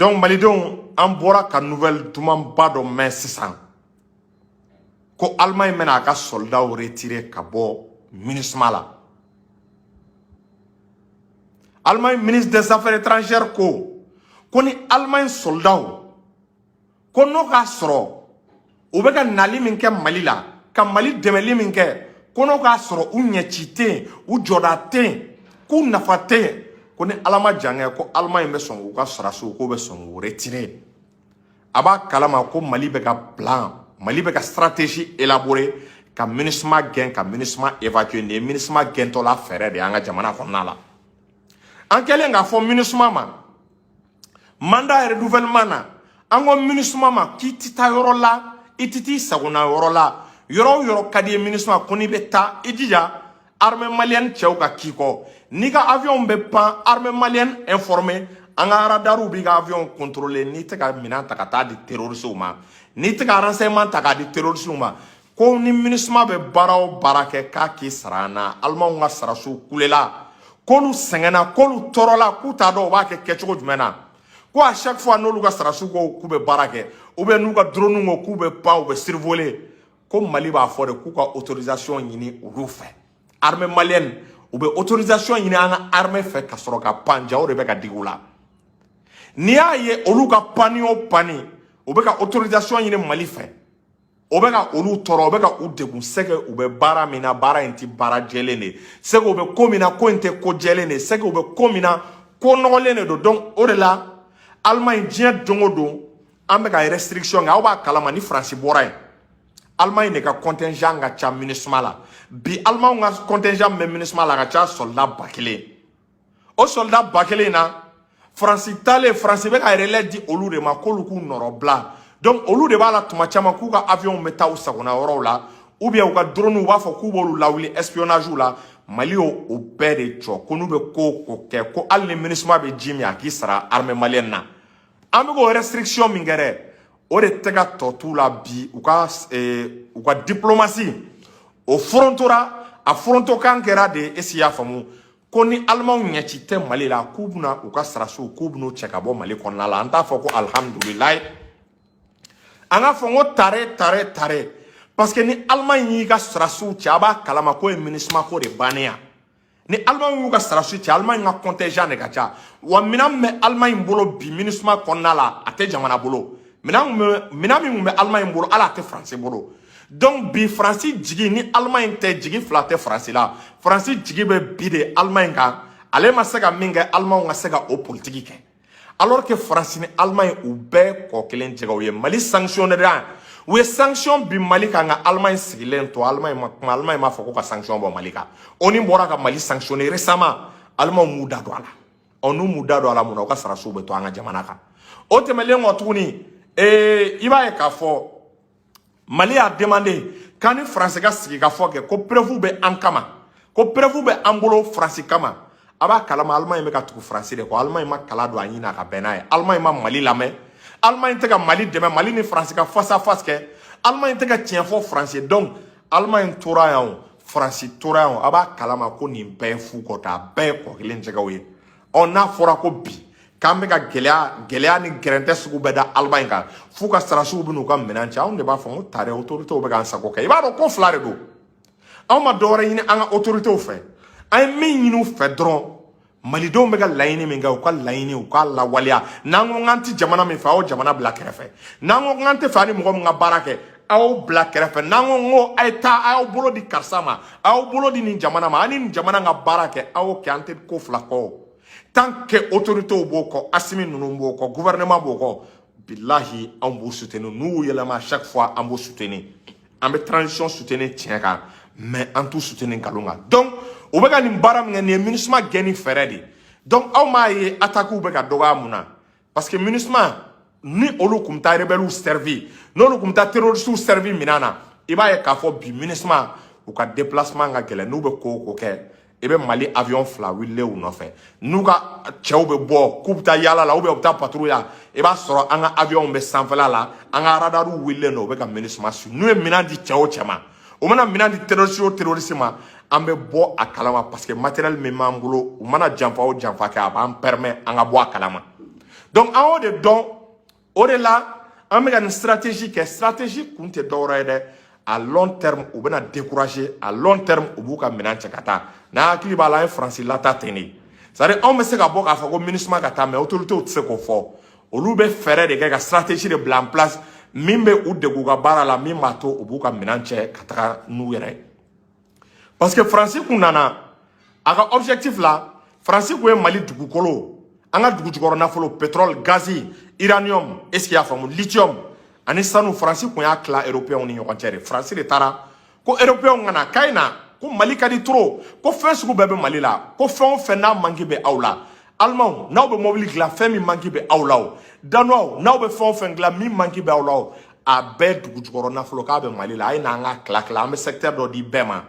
donc malidenw an bɔra ka nouvelle dumanba dɔ mɛn sisan ko allemagne bɛna a ka sɔlidaw retirer ka bɔ minisuma la allemagne ministre des affaires étrangères ko ko ni allemagne sɔlidaw ko n'o k'a sɔrɔ u bɛ ka nali min kɛ mali la ka mali dɛmɛli min kɛ ko n'o k'a sɔrɔ u ɲɛci tɛ yen u jɔda tɛ yen k'u nafa tɛ yen ko ni ala ma jan kɛ ko alamaɲi bɛ sɔn k'u ka sarasiw k'u bɛ sɔn k'u retirer a b'a kalama ko mali bɛ ka plan mali bɛ ka stratégie élaborer ka minisuma gɛn ka minisuma évacuer nin ye minisuma gɛntɔla fɛɛrɛ de y'an ka jamana kɔnɔna la an kɛlen k'a fɔ minisuma ma mandat yɛrɛ renouvellement na an ko minisuma ma k'i tɛ taa yɔrɔ la i tɛ t'i sagona yɔrɔ la yɔrɔ o yɔrɔ ka d'i ye minisuma ko n'i bɛ taa i jija armée malienne cɛw ka k'i kɔ n'i ka avion bɛ pan armée malienne informer an ka radariw b'i ka avion contrôler n'i tɛ ka minɛn ta ka taa di terroristew ma n'i tɛ ka renseignement ta k'a di terroristew ma ko ni minisuma bɛ baara o baara kɛ k'a k'i sara an na alimanw ka sarasiw kulela k'olu sɛgɛnna k'olu tɔɔrɔla k'u t'a dɔn u b'a kɛ kɛcogo jumɛn na ko à chaque fois n'olu ka sarasiw ko k'u bɛ baara kɛ ou bien n'u ka drone ko k'u bɛ pan u bɛ survoler ko mali b'a fɔ de k'u ka autorisation ɲini olu fɛ armée malienne u bɛ autorisation ɲini an ka armée fɛ ka sɔrɔ ka pan jaa o de bɛ ka digi u la n'i y'a ye olu ka panni o panni u bɛ ka autorisation ɲini mali fɛ o bɛ ka olu tɔɔrɔ o bɛ ka u degun c'est que u bɛ baara min na baara in tɛ baara jɛlen de ye c'est que u bɛ ko min na ko in tɛ ko jɛlen de ye c'est que u bɛ ko min na ko nɔgɔlen de don donc o de la Allemagne diɲɛ don o don an bɛ ka restriction kɛ aw b'a kalama ni France bɔra yen Allemagne de ka contingent ka ca MINUSMA la bi Allemagne ka contingent min bɛ MINUSMA la a ka ca soldat ba kelen o sɔlida ba kelen in na faransi taalen faransi bɛ ka relais di olu de ma k'olu k'u nɔrɔbila donc olu de b'a la tuma caman k'u ka avion bɛ taa u sagona yɔrɔw la ou bien u ka droniw b'a fɔ k'u b'olu lawuli espionnage la mali y'o bɛɛ de jɔ ko n'u bɛ ko o ko kɛ ko hali ni minisuma bɛ ji min a k'i sara armée malienne na an bɛ k'o restriction min kɛ dɛ o de tɛ ka tɔ t'u la bi u ka eh, u ka diplomasi o forontora a forontokan kɛra de est-ce i y'a faamu ko ni alimanw ɲɛci tɛ mali la k'u bɛna u ka sarasiw k'u bɛn'u cɛ ka bɔ mali kɔnɔna la an t'a fɔ ko alihamudulilayi an k'a fɔ n ko tare tare tare parce que ni alimaɲi y'i ka sarasiw cɛ a b'a kalama k'o ye minisima ko de bannen yan ni alimaɲi y'u ka sarasiw cɛ alimaɲi ka kɔntɛjan de ka ca wa minɛn min bɛ alimaɲi bolo bi minisima kɔnɔna la a tɛ jamana bolo minɛn min bɛ alimaɲi bolo hali a tɛ faransi bolo donc bi faransi jigi ni alemaɲi tɛ jigi fila tɛ faransi la faransi jigi bɛ bi de alemaɲi kan ale ma se ka min kɛ alemaw ka se ka o politiki kɛ alors que faransi ni alemaɲi u bɛɛ kɔ kelen jɛgɛ u ye mali sanctionné u ye sanction bin mali kan nka alemaɲi sigilen to alemaɲi ma kuma alemaɲi m'a fɔ ko ka sanction bɔ mali kan onu bɔra ka mali sanctionné récemment alemaw m'u da don a la ɔ n'u m'u da don a la mun na u ka sarasiw bɛ to an ka jamana kan o tɛmɛlen kɔ tuguni ee i b'a ye k'a fɔ mali y'a demandé k'an ni faransi ka sigi ka fɔ kɛ ko preuve bɛ an kama ko preuve bɛ an bolo faransi kama a b'a kalama alemaɲi bɛ ka tugu faransi de kɔ alemaɲi ma kala don a ɲin na ka bɛn n'a ye alemaɲi ma mali lamɛn alemaɲi tɛ ka mali dɛmɛ mali ni faransi ka face à face kɛ alemaɲi tɛ ka tiɲɛ fɔ faransi ye donc alemaɲi tora yan o faransi tora yan o a b'a kalama ko nin bɛɛ ye fu kɔta a bɛɛ ye kɔ kelen jɛgɛw ye ɔ n'a fɔra ko bi k'an bɛ ka gɛlɛya gɛlɛya ni gɛrɛntɛ sugu bɛɛ da alemaɲi kan f'u ka sarasiw bɛ n'u ka minɛn cɛ anw de b'a fɔ ko tare otoritew bɛ k'an sago kɛ i b'a dɔn ko fila de don anw ma dɔ wɛrɛ ɲini an ka otoritew fɛ an ye min ɲini u fɛ dɔrɔn malidenw bɛ ka laɲini min kɛ u ka laɲini u k'a lawaleya n'an ko k'an tɛ jamana min fɛ aw jamana bila kɛrɛfɛ n'an ko k'an tɛ fɛ an ni mɔgɔ min ka baara kɛ aw bila kɛrɛfɛ n'an ko n ko a ye taa a y'aw bolo di karisa ma a y'aw bolo di nin jamana ma a ni nin jamana ka baara kɛ aw y'o kɛ an tɛ ko fila kɔ tant que autorités b'o kɔ asimi ninnu b'o kɔ gouvernement b'o kɔ bilahi anw b'u soutenir n'u y'u yɛlɛma chaque fois an b'u soutenir an bɛ transition soutenir tiɲɛ kan mais an t'u soutenir nkalon kan donc u bɛ ka nin baara min kɛ nin ye minusima gɛnni fɛɛrɛ de ye donc aw m'a ye attaques bɛ ka dɔgɔya mun na parce que minusma ni olu kun bɛ taa rebelles servi n'olu kun bɛ taa terroristes servi minɛn na i b'a ye k'a fɔ bi minusma u ka déplacement ka gɛlɛn n'u bɛ ko o ko kɛ i bɛ mali avion fila wililen u nɔfɛ n'u ka cɛw bɛ bɔ k'u bɛ taa yaala la ou bien u bɛ taa patrouille la i b'a sɔrɔ an ka avion bɛ sanfɛla la an ka radariw wililen don u bɛ ka minusma su n'u ye minɛn di cɛ o cɛ ma u mana minɛn di terroriste o terroriste ma an bɛ bɔ a kalama parce que matériel min b'an bolo u mana janfa o janfa kɛ a b'an permet an ka bɔ a kalama donc an y'o de dɔn o de la an bɛ ka nin stratégie kɛ stratégie kun tɛ dɔwɛrɛ ye dɛ à long terme u bɛna décourager à long terme u b'u ka minɛn cɛ ka taa n'an hakili b'a la an ye faransi lataa ten de c'est à dire anw bɛ se ka bɔ k'a fɔ ko minusima ka taa mais autorités tɛ se k'o fɔ olu bɛ fɛɛrɛ de kɛ ka stratégie de bila en place min bɛ u degun u ka baara la min b'a to u b'u ka minɛn cɛ ka taga n'u yɛrɛ ye parce que faransi kun nana a ka objectif la faransi kun ye mali dugukolo an ka dugujukɔrɔ nafolo pétrole gazi uranium est ce que i y'a faamu lithium ani sanu faransi kun y'a tila européenw ni ɲɔgɔn cɛ de faransi de taara ko eropeyɛnw ka na k'a ye na ko mali ka di trop ko fɛn sugu bɛɛ bɛ mali la ko fɛn o fɛn n'a manki bɛ aw la alimanw n'aw bɛ mɔbili dilan fɛn min manki bɛ aw la o danuwaw n'aw bɛ fɛn o fɛn dilan min manki bɛ aw la o a bɛɛ dugu jukɔrɔ nafolo k'a bɛ mali la a ye na an k'a tila tila an bɛ sɛkitɛri dɔ di bɛɛ ma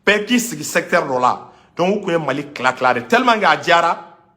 bɛɛ k'i sigi sɛkitɛri dɔ la donc u tun ye mali tila tila de tellement que a diyara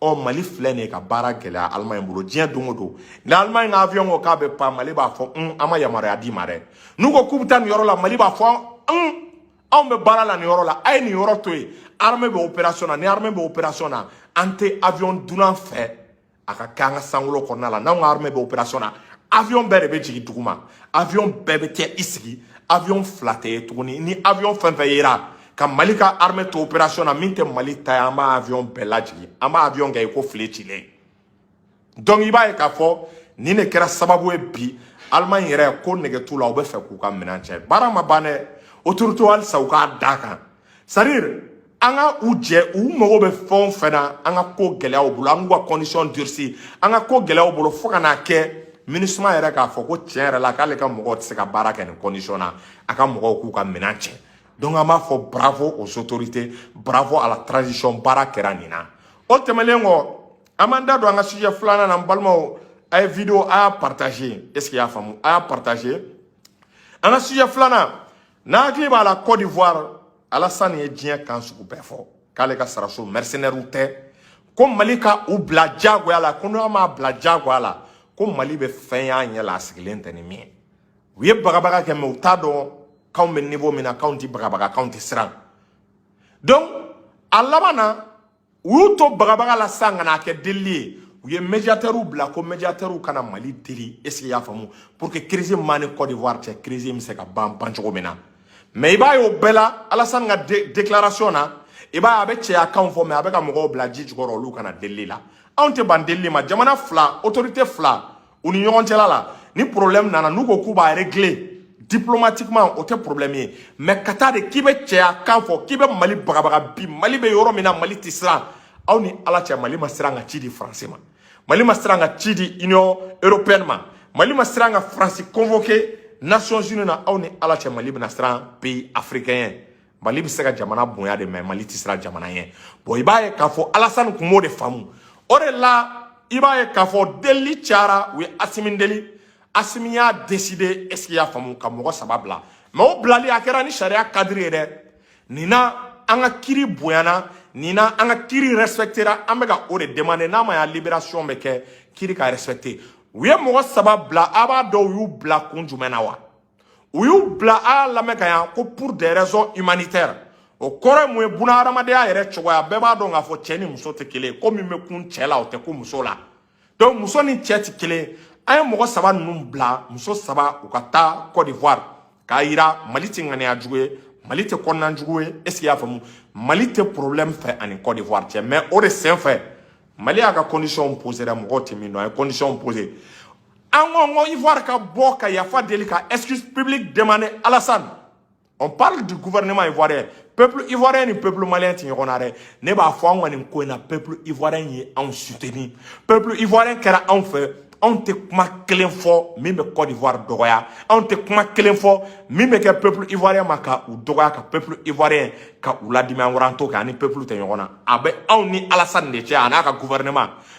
ɔ mali filɛ nin ye ka baara gɛlɛya allemagne bolo diɲɛ don o don ni allemagne ka avion ko k'a bɛ pan mali b'a fɔ un an ma yamaruya d'i ma dɛ n'u ko k'u bɛ taa nin yɔrɔ la mali b'a fɔ un anw bɛ baara la nin yɔrɔ la a ye nin yɔrɔ to yen armée bɛ opération na ni armée bɛ opération na an tɛ avion dunan fɛ a ka kɛ an ka sankolo kɔnɔna la n'anw ka armée bɛ opération na avion bɛɛ de bɛ jigin duguma avion bɛɛ bɛ kɛ i sigi avion fila tɛ ye tuguni ni avion fɛn fɛn yera ka mali ka armée to opération na min tɛ mali ta ye an b'a avion bɛɛ lajigin an b'a avion kɛ i ko filen cilen donc i b'a ye k'a fɔ nin de kɛra sababu ye bi allemagne yɛrɛ ko nege t'u la u bɛ fɛ k'u ka minɛn cɛ baara ma ban dɛ autorité halisa u k'a d'a kan c'est à dire an ka u jɛ u mago bɛ fɛn o fɛn na an ka ko gɛlɛya u bolo an k'u ka condition durci an ka ko gɛlɛya u bolo fo ka n'a kɛ minusma yɛrɛ k'a fɔ ko tiɲɛ yɛrɛ la k'ale ka mɔgɔw tɛ se ka baara kɛ nin condition na a ka mɔgɔw k'u ka minɛn cɛ donc an b'a fɔ bravo aux autorités bravo à la transition baara kɛra nin na o tɛmɛnen kɔ an b'an da don an ka sujet filanan na n balimaw a ye video a y'a partager est ce que y'a faamu a y'a partager an ka sujet filanan n'an hakili b'a la Côte d'Ivoire Alassane ye diɲɛ kan sugu bɛɛ fɔ k'ale ka sɔrɔdasiw mercenaires tɛ ko Mali ka u bila diyagoya la ko n'an m'a bila diyagoya la ko Mali bɛ fɛn y'a ɲɛ la a sigilen tɛ ni min ye u ye bagabaga kɛ mais u t'a dɔn k'anw bɛ niveau min na k'anw tɛ bagabaga k'anw tɛ siran donc a laban na u y'u to bagabaga la sisan ka n'a kɛ delili ye u ye médiateurs bila ko médiateurs ka na mali deli est ce que y'a faamu pour que crise m'an ni cote d'ivoire cɛ crise bɛ se ka ban ban cogo min na mais i b'a ye o bɛɛ la alasani ka déclaration na i b'a ye a bɛ cɛya kanw fɔ mais a bɛ ka mɔgɔw bila ji jukɔrɔ olu ka na delili la anw tɛ ban delili ma jamana fila autorité fila u ni ɲɔgɔn cɛla la ni problème nana n'u ko k'u b'a régler diplomatiquement o tɛ problème ye mais ka taa de k'i bɛ cɛya kan fɔ k'i bɛ mali bagabaga bi mali bɛ yɔrɔ min na mali tɛ siran aw ni ala cɛ mali ma siran ka ci di faransi ma mali ma siran ka ci di union européenne ma mali ma siran ka faransi convoqué nations unies na aw ni ala cɛ mali bɛna siran pays africain ye mali bɛ se ka jamana bonya de mɛ mali tɛ siran jamana ɲɛ bɔn i b'a ye k'a fɔ alasani kun b'o de faamu o de la i b'a ye k'a fɔ delili cayara u ye asimi deli asimi y'a deside esike y'a faamu ka mɔgɔ saba bila mɛ o bilali a kɛra ni sariya kadiri ye dɛ nin na an ka kiri bonyana nin na an ka kiri respɛktera an bɛ ka o de demande n'a ma y'a liberasiyɔn bɛ kɛ kiri ka respɛkte u ye mɔgɔ saba bila a b'a dɔn u y'u bila kun jumɛn na wa u y'u bila a y'a lamɛn ka ɲa ko pour des raisons humanitaires o kɔrɔ ye mun ye buna hadamadenya yɛrɛ cogoya bɛɛ b'a dɔn k'a fɔ cɛ ni muso tɛ kelen ko min bɛ kun cɛ la o tɛ kun muso la donc muso ni cɛ tɛ kelen an ye mɔgɔ saba ninnu bila muso saba u ka taa Côte d'Ivoire k'a yira Mali tɛ ŋaniya jugu ye Mali tɛ kɔnɔna jugu ye est ce que y'a faamu Mali tɛ problème fɛ a ni Côte d'Ivoire cɛ mais o de senfɛ Mali y'a ka condition poser dɛ mɔgɔw tɛ min dɔn a ye condition poser an ko ko ivoire ka bɔ ka yafa deli ka excuse publique demander alassane on parle du gouvernement ivoirien peuple ivoirien ni peuple malien tɛ ɲɔgɔn na dɛ ne b'a fɔ an ka nin ko in na peuple ivoirien ye anw soutenir peuple ivoirien kɛra anw fɛ anw tɛ kuma kelen fɔ min bɛ Côte d'Ivoire dɔgɔya anw tɛ kuma kelen fɔ min bɛ kɛ peuple ivoirien ma ka u dɔgɔya ka peuple ivoirien ka u ladimi an kɔrɔ an t'o kɛ an ni peuple tɛ ɲɔgɔn na a bɛ anw ni Alassane de cɛ a n'a ka gouvernement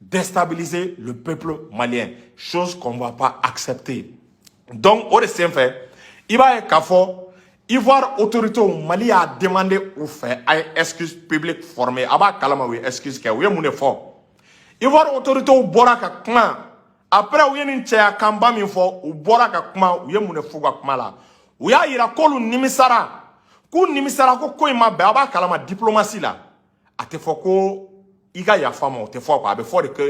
déstabiliser le peuple malien chose qu'on va pas accepter donc o de senfɛ i b'a ye k'a fɔ Ivoire autoritéw Mali y'a demander u fɛ a ye excuse publique formée a b'a kalama u ye excuse kɛ u ye mun de fɔ Ivoire autoritéw bɔra ka kuma après u ye nin cɛya kanba min fɔ u bɔra ka kuma u ye mun de f'u ka kuma la u y'a yira k'olu nimisara k'u nimisara ko ko in ma bɛn a b'a kalama diplomasi la a tɛ fɔ ko i ka yafa ma o tɛ fɔ quoi a bɛ fɔ de ko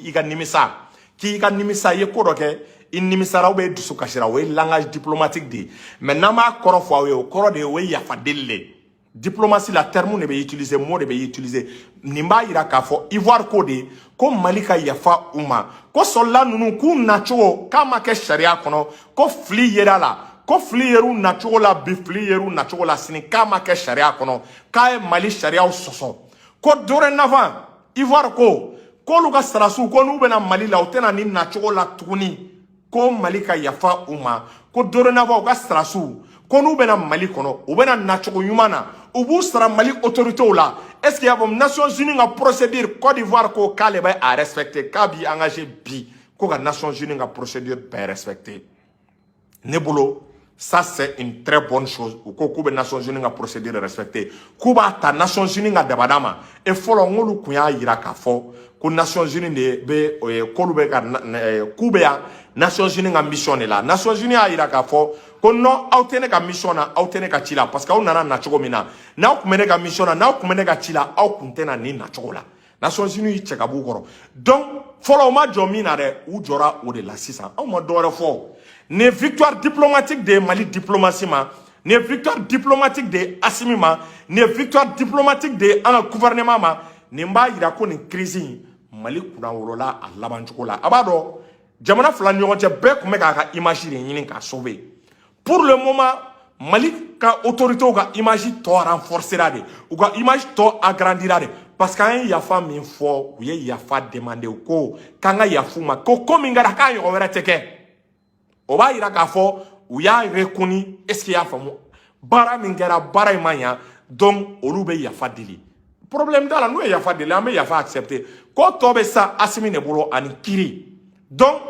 i ka nimisa k'i ka nimisa i ye ko dɔ kɛ i nimisara ou bien i dusu kasira o ye langage diplomatique de ye mais n'an b'a kɔrɔ fɔ aw ye o kɔrɔ de ye o ye yafa deli de ye diplomasi la terme de bɛ utiliser mot de bɛ utiliser nin b'a yira k'a fɔ ivoire ko de ko mali ka yafa u ma ko soldat ninnu k'u nacogo k'a ma kɛ sariya kɔnɔ ko fili yer'a la ko fili yer'u nacogo la bi fili yer'u nacogo la sini k'a ma kɛ sariya kɔnɔ k'a ye mali sariyaw sɔsɔ ko dorénavant ivoire ko k'olu ka sarasiw ko n'u bɛ na mali la u tɛ na nin nacogo la tuguni ko mali ka yafa u ma ko dorénavant u ka sarasiw ko n'u bɛ na mali kɔnɔ u bɛ na nacogo ɲuman na u b'u sara mali autoritew la est ce que y'a faamu nations unies ka procédure cote d'ivoire ko k'ale bɛ a respecter k'a b'i engagé bi ko ka nations unies ka procédure bɛɛ respecter ne bolo ça c'est une très bonne chose u ko k'u bɛ Nations Unies ka procédure respecter k'u b'a ta Nations Unies ka dabada ma et fɔlɔ olu kun y'a yira k'a fɔ ko Nations Unies de bɛ k'olu bɛ ka k'u bɛ yan Nations Unies ka mission de la Nations Unies y'a yira k'a fɔ ko non aw tɛ ne ka mission na aw tɛ ne ka ci la parce que aw nana nacogo min na n'aw tun bɛ ne ka mission na n'aw tun bɛ ne ka ci la aw tun tɛ na nin nacogo la. Nations Unies y'i cɛ ka b'u kɔrɔ donc fɔlɔ u ma jɔ min na dɛ u jɔra o de la sisan anw ma dɔ wɛrɛ fɔ nin ye victoire diplomatique de ye Mali diplomatie ma nin ye victoire diplomatique de ye Assimi ma nin ye victoire diplomatique de ye an ka gouvernement ma nin b'a yira ko nin crise in Mali kunnawolola a labancogo la a b'a dɔn jamana fila ni ɲɔgɔn cɛ bɛɛ kun bɛ k'a ka image de ɲini k'a sauver pour le moment mali ka autorités ka image tɔ renforcera de u ka image tɔ agrandira de parce que an ye yafa min fɔ u ye yafa demander ko k'an ka yaf'u ma ko ko min kɛra k'a ɲɔgɔn wɛrɛ tɛ kɛ o b'a yira k'a fɔ u y'a reconnu est-ce que y'a faamu baara min kɛra baara in ma ɲa donc olu bɛ yafa deli problème t'a la n'u ye yafa deli an bɛ yafa accepter ko tɔ bɛ sa Assimi de bolo ani kiri donc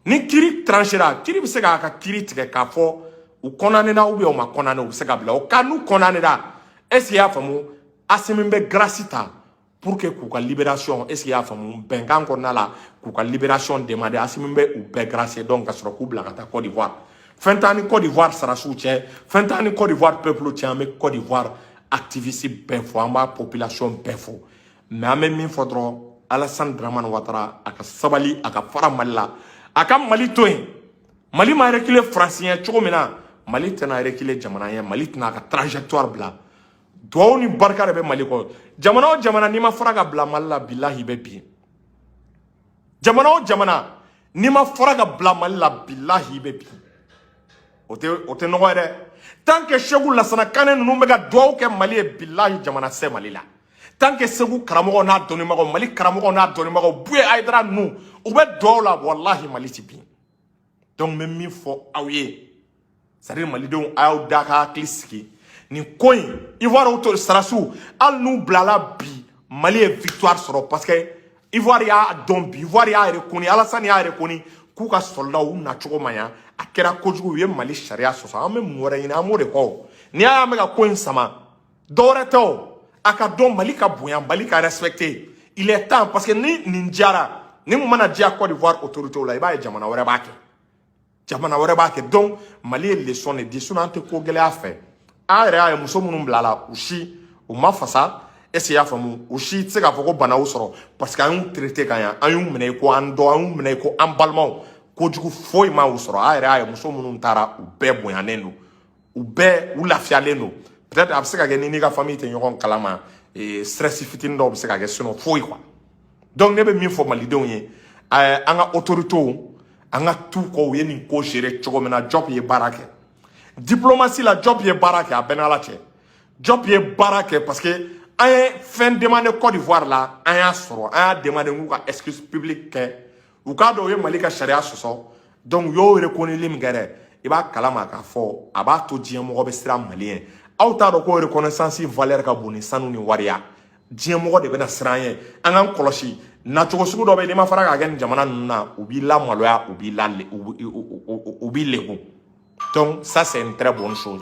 ni kiri tranchera kiri bɛ se k'a ka kiri tigɛ k'a fɔ u condamnera ou bien u ma condamner u bɛ se ka bila au cas n'u condamnera est-ce y'a faamu Assimi bɛ grâce ta pour que k'u ka libération est-ce y'a faamu bɛnkan kɔnɔna la k'u ka libération demander Assimi bɛ u bɛɛ gracier donc ka sɔrɔ k'u bila ka taa Côte d'Ivoire fɛn t'an ni Côte d'Ivoire sarasiw cɛ fɛn t'an ni Côte d'Ivoire peuple cɛ an bɛ Côte d'Ivoire activiste bɛɛ fo an b'a population bɛɛ fo mais an bɛ min fɔ dɔrɔn Alassane Dramane Ouattara a ka sabali a ka fara mali la a ka mali to yen mali ma reculer faransi ɲɛ cogo min na mali tɛna reculer jamana ɲɛ mali tɛna a ka trajectoire bila duwawu ni barika de bɛ mali kɔ jamana o jamana n'i ma fara ka bila mali la bilahi i bɛ bin jamana o jamana n'i ma fara ka bila mali la bilahi i bɛ bin o tɛ o tɛ nɔgɔ ye dɛ tant que seku Lassana Kane ninnu bɛ ka duwawu kɛ mali ye bilahi jamana tɛ se mali la tant que segu karamɔgɔw n'a dɔnnibagaw mali karamɔgɔw n'a dɔnnibagaw Bouyé Haïdara ninnu u bɛ duwawu la walahi mali ti bin donc n bɛ min fɔ aw ye c'est-à-dire malidenw a y'aw da ka hakili sigi nin ko in ivoirew to sarasiw hali n'u bilala bi mali ye victoire sɔrɔ parce que ivoire y'a dɔn bi ivoire y'a reconnu Alassane y'a reconnu k'u ka soldats u nacogo ma ɲa a kɛra kojugu u ye mali sariya sɔsɔ an bɛ mun wɛrɛ ɲini an b'o de kɔ n'i y'a y'an bɛ ka ko in sama dɔwɛrɛ tɛ o a k'a dɔn mali ka bonya mali ka respecter il est temps parce que ni nin diyara ni mun mana diya Côte d'Ivoire autorités la i b'a ye jamana wɛrɛ b'a kɛ jamana wɛrɛ b'a kɛ donc mali ye leçon de di sinon an tɛ ko gɛlɛya fɛ an yɛrɛ y'a ye muso minnu bilala u si u ma fasa est-ce y'a faamu u si tɛ se k'a fɔ ko bana y'u sɔrɔ parce que an y'u traité ka ɲa an y'u minɛ ko an dɔ an y'u minɛ ko an balimaw kojugu foyi ma u sɔrɔ an yɛrɛ y'a ye muso minnu taara u bɛɛ bonyanen don u bɛɛ u lafiyalen don peut-être a bɛ se ka kɛ ni n'i ka famille tɛ ɲɔgɔn kalama eh, stress fitinin dɔw bɛ se ka kɛ sinon foyi quoi donc ne bɛ min fɔ malidenw ye eh, an ka autorités an ka t'u kɔ u ye nin ko gérer cogo min na Diop ye baara kɛ diplomatie la Diop ye baara kɛ a bɛɛ n'ala cɛ Diop ye baara kɛ parce que an ye fɛn demander Côte d'Ivoire la an y'a sɔrɔ an y'a demander k'u ka excuse publique kɛ u k'a dɔn u ye mali ka sariya sɔsɔ donc u y'o rekoneli min kɛ dɛ i b'a kalama k'a fɔ a b'a to diɲɛ mɔgɔ bɛ siran mali ɲɛ aw t'a dɔn ko reconnaissance valeur ka bon ni sanu ni wari ye diɲɛ mɔgɔ de bɛna siran an ye an k'an kɔlɔsi nacogo sugu dɔ bɛ yen n'i ma fara k'a kɛ nin jamana ninnu na u b'i lamaloya u b'i la u b'i legun donc ça c'est une très bonne chose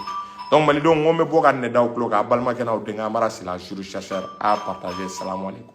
donc malidenw n ko n bɛ bɔ ka nin d'aw tulo kan aw balimakɛ n'aw denkɛ Amara Sylla juriste chercheur a partager salamu aleykum